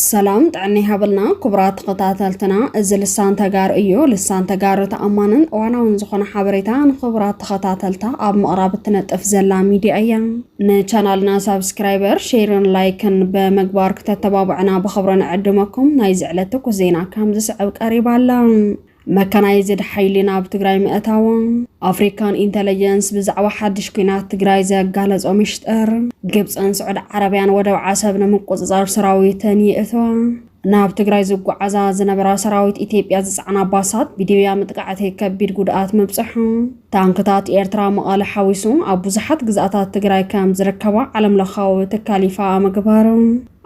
ሰላም ጥዕና ይሃበልና ክቡራት ተኸታተልትና፣ እዚ ልሳን ተጋሩ እዩ። ልሳን ተጋሩ ተኣማንን እዋናውን ዝኾነ ሓበሬታ ንኽቡራት ተኸታተልታ ኣብ ምቕራብ እትነጥፍ ዘላ ሚድያ እያ። ንቻናልና ሳብስክራይበር ሼርን ላይክን በመግባር ክተተባብዕና ብክብሪ ንዕድመኩም። ናይዚ ዕለት ትኩስ ዜና ከም ዝስዕብ ቀሪባ ኣላ። መካናይዝድ ሓይሊ ናብ ትግራይ ምእታዎ፣ ኣፍሪካን ኢንተለጀንስ ብዛዕባ ሓድሽ ኩናት ትግራይ ዘጋለጾ ምሽጥር፣ ግብፅን ስዑድ ዓረብያን ወደብ ዓሰብ ንምቁፅፃር ሰራዊተን ይእትዋ፣ ናብ ትግራይ ዝጓዓዛ ዝነበራ ሰራዊት ኢትዮጵያ ዝፀዓና ባሳት ብዲብያ ምጥቃዕቲ ከቢድ ጉድኣት ምብፅሑ፣ ታንክታት ኤርትራ መቐለ ሓዊሱ ኣብ ብዙሓት ግዝኣታት ትግራይ ከም ዝርከባ ዓለም ለኻዊ ትካል ይፋ ምግባሩ፣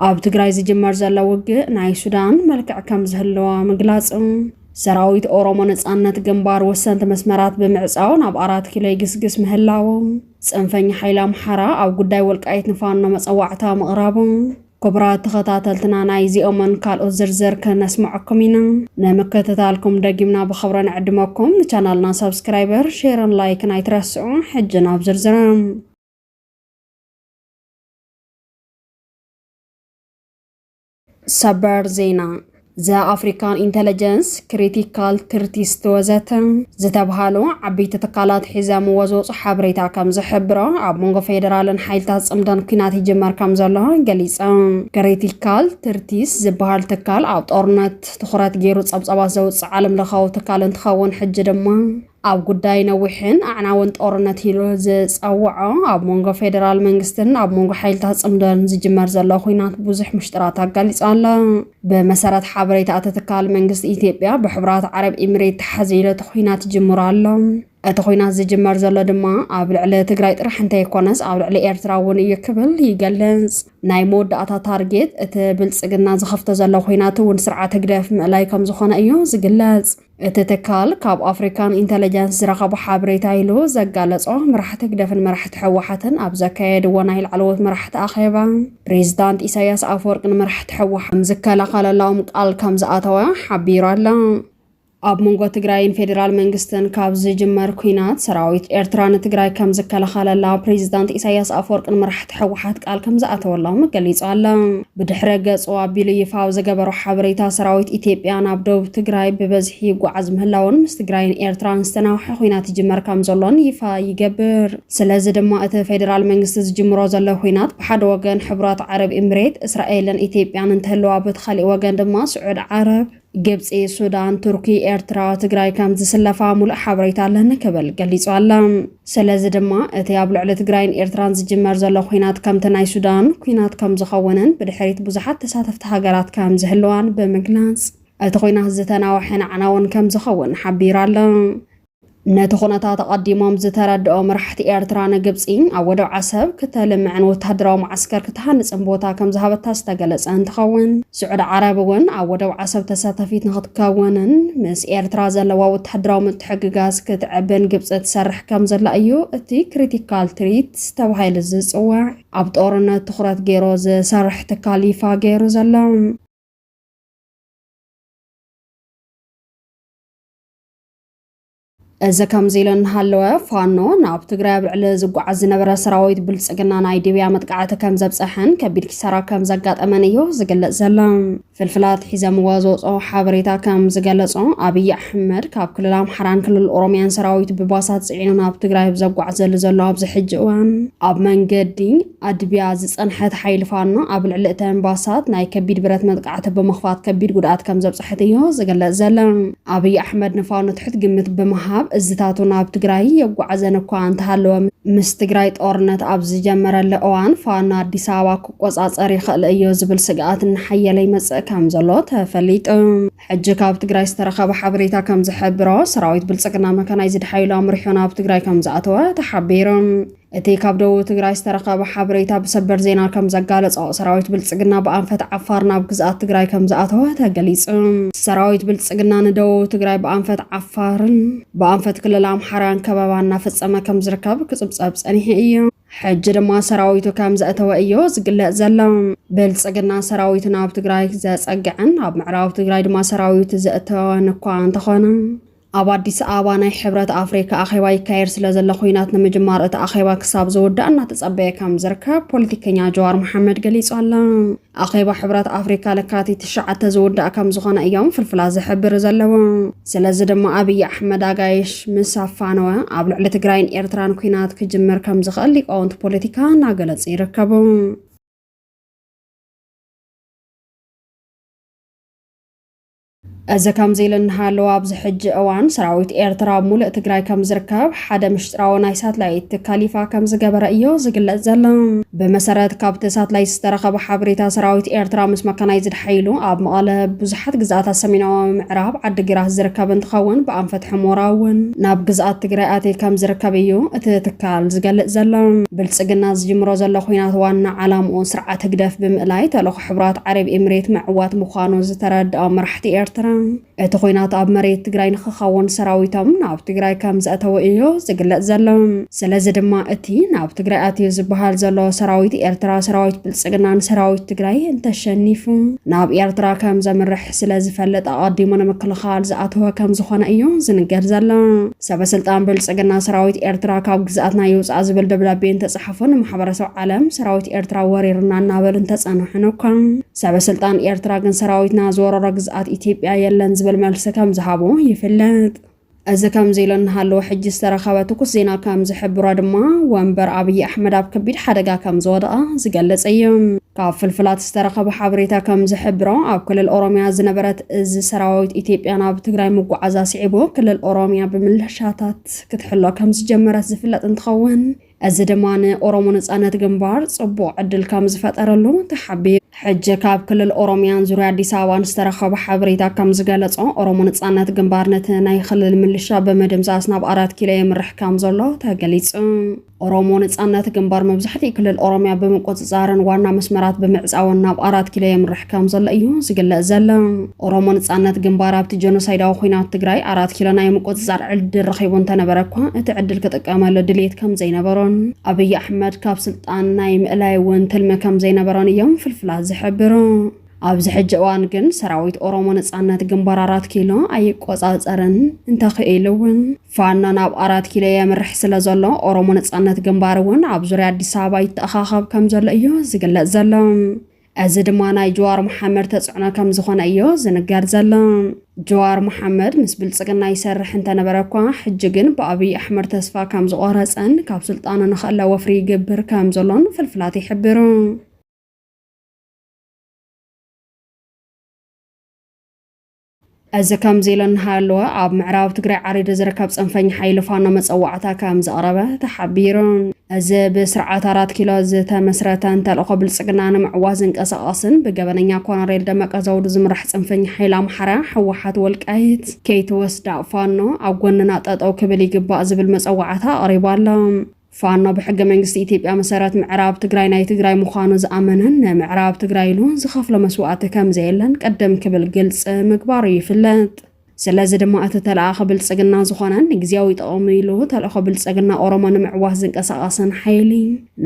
ኣብ ትግራይ ዝጅመር ዘሎ ውግእ ናይ ሱዳን መልክዕ ከም ዝህልዎ ምግላፁ፣ ሰራዊት ኦሮሞ ነፃነት ግንባር ወሰንቲ መስመራት ብምዕፃው ናብ ኣራት ኪሎ ይግስግስ ምህላዉ፣ ፅንፈኛ ሓይሊ ኣምሓራ ኣብ ጉዳይ ወልቃይት ንፋኖ መፀዋዕታ ምቕራቡ፣ ክቡራት ተኸታተልትና ናይ እዚኦምን ካልኦት ዝርዝር ክነስምዐኩም ኢና። ንምክትታልኩም ደጊምና ብኽብሪ ንዕድመኩም። ንቻናልና ሳብስክራይበር፣ ሼርን ላይክን ኣይትረስዑ። ሕጂ ናብ ዝርዝርም ሰበር ዜና ዘኣፍሪካን ኢንተለጀንስ፣ ክሪቲካል ትርቲስት ወዘተ ዝተብሃሉ ዓቢይቲ ትካላት ሒዘምዎ ዝወጹ ሓበሬታ ከም ዝሕብሮ ኣብ መንጎ ፌደራልን ሓይልታት ጽምዶን ኩናት ይጅመር ከም ዘሎ ገሊጸ። ክሪቲካል ትርቲስት ዝበሃል ትካል ኣብ ጦርነት ትኹረት ገይሩ ጸብጻባት ዘውጽእ ዓለም ለኻዊ ትካል እንትኸውን ሕጂ ድማ ኣብ ጉዳይ ነዊሕን ኣዕናውን ጦርነት ኢሉ ዝጸውዖ ኣብ መንጎ ፌደራል መንግስትን ኣብ መንጎ ሓይልታት ጽምዶን ዝጅመር ዘሎ ኩናት ብዙሕ ምሽጥራት ኣጋሊጻ ኣላ። ብመሰረት ሓበሬታ እቲ ትካል መንግስቲ ኢትዮጵያ ብሕቡራት ዓረብ ኢሚሬት ተሓዚሉ እቲ ኩናት ጅምሩ ኣሎ። እቲ ኩናት ዝጅመር ዘሎ ድማ ኣብ ልዕሊ ትግራይ ጥራሕ እንተይኮነስ ኣብ ልዕሊ ኤርትራ እውን እዩ ክብል ይገልጽ። ናይ መወዳእታ ታርጌት እቲ ብልጽግና ዝኸፍቶ ዘሎ ኩናት እውን ስርዓት ህግደፍ ምእላይ ከም ዝኾነ እዩ ዝግለጽ። እቲ ትካል ካብ ኣፍሪካን ኢንተለጀንስ ዝረኸቦ ሓበሬታ ኢሉ ዘጋለጾ መራሕቲ ህግደፍን መራሕቲ ሕወሓትን ኣብ ዘካየድዎ ናይ ላዕለዎት መራሕቲ ኣኼባ ፕሬዚዳንት ኢሳያስ ኣፈወርቂ ንመራሕቲ ሕወሓት ዝከላኸለላኦም ቃል ከም ዝኣተወ ሓቢሩ ኣሎ። ኣብ መንጎ ትግራይን ፌዴራል መንግስትን ካብ ዝጅመር ኩናት ሰራዊት ኤርትራ ንትግራይ ከም ዝከላኸለላ ፕሬዚዳንት ኢሳያስ ኣፈወርቂ ንመራሕቲ ሕወሓት ቃል ከም ዝኣተወሎም ገሊጹ ኣሎ። ብድሕረ ገጹ ኣቢሉ ይፋዊ ዝገበሮ ሓበሬታ፣ ሰራዊት ኢትዮጵያ ናብ ደቡብ ትግራይ ብበዝሒ ይጓዓዝ ምህላዉን ምስ ትግራይን ኤርትራን ዝተናውሐ ኹናት ይጅመር ከምዘሎን ይፋ ይገብር። ስለዚ ድማ እቲ ፌደራል መንግስቲ ዝጅምሮ ዘሎ ኹናት ብሓደ ወገን ሕቡራት ዓረብ ኢምሬት፣ እስራኤልን ኢትዮጵያን እንትህልዋ በቲ ካሊእ ወገን ድማ ስዑድ ዓረብ፣ ግብፂ፣ ሱዳን፣ ቱርኪ፣ ኤርትራ፣ ትግራይ ከም ዝስለፋ ሙሉእ ሓበሬታ ኣለኒ ክብል ገሊጹ ኣለ። ስለዚ ድማ እቲ ኣብ ልዕሊ ትግራይን ኤርትራን ዝጅመር ዘሎ ኩናት ከምቲ ናይ ሱዳን ኩናት ከም ዝኸውንን ብድሕሪት ብዙሓት ተሳተፍቲ ሃገራት ከም ዝህልዋን ብምግላጽ እቲ ኩናት ዝተናወሐን ኣዕናውን ከም ዝኸውን ሓቢሩ ኣለ። ነቲ ኩነታት ኣቐዲሞም ዝተረድኦ መራሕቲ ኤርትራ ንግብፂ ኣብ ወደብ ዓሰብ ክተልምዕን ወታደራዊ መዓስከር ክትሃንፅን ቦታ ከም ዝሃበታ ዝተገለፀ እንትኸውን ስዑድ ዓረብ እውን ኣብ ወደብ ዓሰብ ተሳታፊት ንክትከውንን ምስ ኤርትራ ዘለዋ ወታደራዊ ምትሕግጋዝ ክትዕብን ግብፂ ትሰርሕ ከም ዘላ እዩ እቲ ክሪቲካል ትሪት ተባሂሉ ዝፅዋዕ ኣብ ጦርነት ትኩረት ገይሮ ዝሰርሕ ትካል ይፋ ገይሩ ዘሎ እዚ ከምዚ ኢሉ እናሃለወ ፋኖ ናብ ትግራይ ኣብ ልዕሊ ዝጓዓዝ ዝነበረ ሰራዊት ብልፅግና ናይ ዲብያ መጥቃዕቲ ከም ዘብፀሐን ከቢድ ኪሳራ ከም ዘጋጠመን እዩ ዝግለፅ ዘሎ። ፍልፍላት ሒዘምዎ ዝወፅኦ ሓበሬታ ከም ዝገለፆ ኣብይ ኣሕመድ ካብ ክልል ኣምሓራን ክልል ኦሮሚያን ሰራዊት ብባሳት ፅዒኑ ናብ ትግራይ ብዘጓዕዘሉ ዘሎ ኣብዚ ሕጂ እዋን ኣብ መንገዲ ኣድብያ ዝጸንሐት ሓይሊ ፋኖ ኣብ ልዕሊ እተን ባሳት ናይ ከቢድ ብረት መጥቃዕቲ ብምኽፋት ከቢድ ጉድኣት ከም ዘብጸሐት እዮ ዝግለጽ ዘሎ። ኣብይ ኣሕመድ ንፋኖ ትሕት ግምት ብምሃብ እዝታቱ ናብ ትግራይ የጓዕዘን እኳ እንተሃለወ ምስ ትግራይ ጦርነት ኣብ ዝጀመረሉ እዋን ፋኖ ኣዲስ ኣበባ ክቆጻጸር ይኽእል እዮ ዝብል ስግኣት እናሓየለ ይመጽእ ከም ዘሎ ተፈሊጡ። ሕጂ ካብ ትግራይ ዝተረኸበ ሓበሬታ ከም ዝሕብሮ ሰራዊት ብልጽግና መካናይዝድ ሓይሉ ኣምሪሑ ናብ ትግራይ ከም ዝኣተወ ተሓቢሩ። እቲ ካብ ደቡብ ትግራይ ዝተረኸበ ሓበሬታ ብሰበር ዜና ከም ዘጋለጾ ሰራዊት ብልጽግና ብኣንፈት ዓፋር ናብ ግዝኣት ትግራይ ከም ዝኣተወ ተገሊጹ። ሰራዊት ብልጽግና ንደቡብ ትግራይ ብኣንፈት ዓፋርን ብኣንፈት ክልል ኣምሓራን ከበባ እናፈጸመ ከም ዝርከብ ክጽብጸብ ጸኒሑ እዩ። ሕጂ ድማ ሰራዊቱ ከም ዘእተወ እዮ ዝግለጽ ዘሎ። ብልጽግና ሰራዊቱ ናብ ትግራይ ዘጸግዐን ኣብ ምዕራብ ትግራይ ድማ ሰራዊት ዘእተወን እኳ እንተኾነ ኣብ ኣዲስ ኣበባ ናይ ሕብረት ኣፍሪካ ኣኼባ ይካየድ ስለዘሎ ኩናት ንምጅማር እቲ ኣኼባ ክሳብ ዝውዳእ እናተፀበየ ከም ዝርከብ ፖለቲከኛ ጀዋር መሓመድ ገሊፁ ኣሎ። ኣኼባ ሕብረት ኣፍሪካ ለካቲት ትሽዓተ ዝውዳእ ከም ዝኾነ እዮም ፍልፍላት ዝሕብር ዘለዎ። ስለዚ ድማ ኣብይ ኣሕመድ ኣጋይሽ ምስ ኣፋነወ ኣብ ልዕሊ ትግራይን ኤርትራን ኩናት ክጅምር ከም ዝኽእል ሊቃውንቲ ፖለቲካ እናገለጹ ይርከቡ። እዚ ከምዚ ኢሉ እናሃለወ ኣብዚ ሕጂ እዋን ሰራዊት ኤርትራ ኣብ ሙሉእ ትግራይ ከም ዝርከብ ሓደ ምሽጥራዊ ናይ ሳትላይት ትካል ይፋ ከም ዝገበረ እዮ ዝግለጽ ዘሎ። ብመሰረት ካብቲ ሳትላይት ዝተረኸበ ሓበሬታ ሰራዊት ኤርትራ ምስ መካናይዝድ ሓይሉ ኣብ መቐለ፣ ብዙሓት ግዝኣታት ሰሜናዊ ምዕራብ፣ ዓዲግራት ዝርከብ እንትኸውን ብኣንፈት ሑሞራ እውን ናብ ግዝኣት ትግራይ ኣትዩ ከም ዝርከብ እዩ እቲ ትካል ዝገልጽ ዘሎ። ብልጽግና ዝጅምሮ ዘሎ ኹናት ዋና ዓላምኡ ስርዓት ህግደፍ ብምእላይ ተልእኾ ሕቡራት ዓረብ ኤምሬት ምዕዋት ምዃኑ ዝተረድኦም መራሕቲ ኤርትራ፣ እቲ ኹናት ኣብ መሬት ትግራይ ንኽኸውን ሰራዊቶም ናብ ትግራይ ከም ዘእተዉ እዩ ዝግለጽ ዘሎ። ስለዚ ድማ እቲ ናብ ትግራይ ኣትዩ ዝበሃል ዘሎ ሰራዊት ኤርትራ፣ ሰራዊት ብልጽግና ንሰራዊት ትግራይ እንተሸኒፉ ናብ ኤርትራ ከም ዘምርሕ ስለ ዝፈልጥ ኣቐዲሙ ንምክልኻል ዝኣተወ ከም ዝኾነ እዩ ዝንገር ዘሎ። ሰበስልጣን ብልፅግና ሰራዊት ኤርትራ ካብ ግዝኣትና ይውፃእ ዝብል ደብዳቤ እንተፀሓፉ ንማሕበረሰብ ዓለም ሰራዊት ኤርትራ ወሪርና እናበሉ እንተፀንሑን እኳ ሰበስልጣን ኤርትራ ግን ሰራዊትና ዝወረሮ ግዝኣት ኢትዮጵያ የለን ዝብል መልሲ ከም ዝሃቡ ይፍለጥ። እዚ ከምዚ ኢሉ እናሃለወ ሕጂ ዝተረኸበ ትኩስ ዜና ከም ዝሕብሮ ድማ ወንበር ኣብይ ኣሕመድ ኣብ ከቢድ ሓደጋ ከም ዝወደቐ ዝገልጽ እዩ። ካብ ፍልፍላት ዝተረኸበ ሓበሬታ ከም ዝሕብሮ፣ ኣብ ክልል ኦሮሚያ ዝነበረት እዝ ሰራዊት ኢትዮጵያ ናብ ትግራይ ምጉዓዛ ስዒቡ ክልል ኦሮሚያ ብምልሻታት ክትሕሎ ከም ዝጀመረት ዝፍለጥ እንትኸውን እዚ ድማ ንኦሮሞ ነፃነት ግንባር ፅቡቕ ዕድል ከም ዝፈጠረሉ ተሓቢሩ። ሕጂ ካብ ክልል ኦሮሚያን ዙርያ ኣዲስ ኣበባን ዝተረኸበ ሓበሬታ ከም ዝገለጾ ኦሮሞ ነፃነት ግንባር ነቲ ናይ ክልል ምልሻ ብምድምሳስ ናብ ኣራት ኪሎ የምርሕ ከም ዘሎ ተገሊጹ። ኦሮሞ ነፃነት ግንባር መብዛሕትኡ ክልል ኦሮሚያ ብምቁፅፃርን ዋና መስመራት ብምዕፃውን ናብ ኣራት ኪሎ የምርሕ ከም ዘሎ እዩ ዝግለፅ ዘሎ። ኦሮሞ ነፃነት ግንባር ኣብቲ ጀኖሳይዳዊ ኩናት ትግራይ ኣራት ኪሎ ናይ ምቁፅፃር ዕድል ረኺቡ እንተነበረ እኳ እቲ ዕድል ክጥቀመሉ ድሌት ከም ዘይነበሮን ኣብይ ኣሕመድ ካብ ስልጣን ናይ ምእላይ እውን ትልሚ ከም ዘይነበሮን እዮም ፍልፍላት ዝሕብሩ። ኣብዚ ሕጂ እዋን ግን ሰራዊት ኦሮሞ ነፃነት ግንባር ኣራት ኪሎ ኣይቆፃፀርን እንተኽኢሉ እውን ፋኖ ናብ ኣራት ኪሎ የምርሕ ስለ ዘሎ ኦሮሞ ነጻነት ግንባር እውን ኣብ ዙርያ ኣዲስ ኣበባ ይተኣኻኸብ ከም ዘሎ እዩ ዝግለጽ ዘሎ። እዚ ድማ ናይ ጀዋር መሓመድ ተጽዕኖ ከም ዝኾነ እዮ ዝንገር ዘሎ። ጀዋር መሓመድ ምስ ብልጽግና ይሰርሕ እንተነበረ እኳ ሕጂ ግን ብኣብይ ኣሕመድ ተስፋ ከም ዝቖረጸን ካብ ስልጣኑ ንኸእለ ወፍሪ ይግብር ከም ዘሎን ፍልፍላት ይሕብሩ። እዚ ከምዚ ኢሉ እናሃለወ ኣብ ምዕራብ ትግራይ ዓሪዱ ዝርከብ ፅንፈኛ ሓይሊ ፋኖ መፀዋዕታ ከም ዘቕረበ ተሓቢሩ። እዚ ብስርዓት ኣራት ኪሎ ዝተመስረተን ተልእኾ ብልፅግና ንምዕዋት ዝንቀሳቐስን ብገበነኛ ኮሎኔል ደመቀ ዘውዱ ዝምራሕ ፅንፈኛ ሓይሊ ኣምሓራ ህወሓት ወልቃይት ከይትወስዳ ፋኖ ኣብ ጎንና ጠጠው ክብል ይግባእ ዝብል መፀዋዕታ ኣቕሪቡ ኣሎ። ፋኖ ብሕገ መንግስቲ ኢትዮጵያ መሰረት ምዕራብ ትግራይ ናይ ትግራይ ምዃኑ ዝኣመነን ንምዕራብ ትግራይ ኢሉ ዝኸፍሎ መስዋእቲ ከምዘየለን ቅድም ክብል ግልፂ ምግባሩ ይፍለጥ። ስለዚ ድማ እቲ ተለኣኺ ብልፅግና ዝኾነን ንግዝያዊ ጥቕሙ ኢሉ ተልእኾ ብልፅግና ኦሮሞ ንምዕዋት ዝንቀሳቐስን ሓይሊ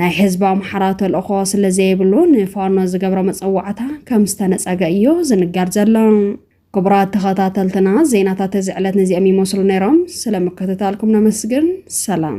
ናይ ህዝቢ ኣምሓራ ተልእኾ ስለዘይብሉ ንፋኖ ዝገብሮ መፀዋዕታ ከምዝተነፀገ እዩ ዝንገር ዘሎ። ክቡራት ተኸታተልትና ዜናታት እዚ ዕለት ነዚኦም ይመስሉ ነይሮም። ስለምክትታልኩም ነመስግን። ሰላም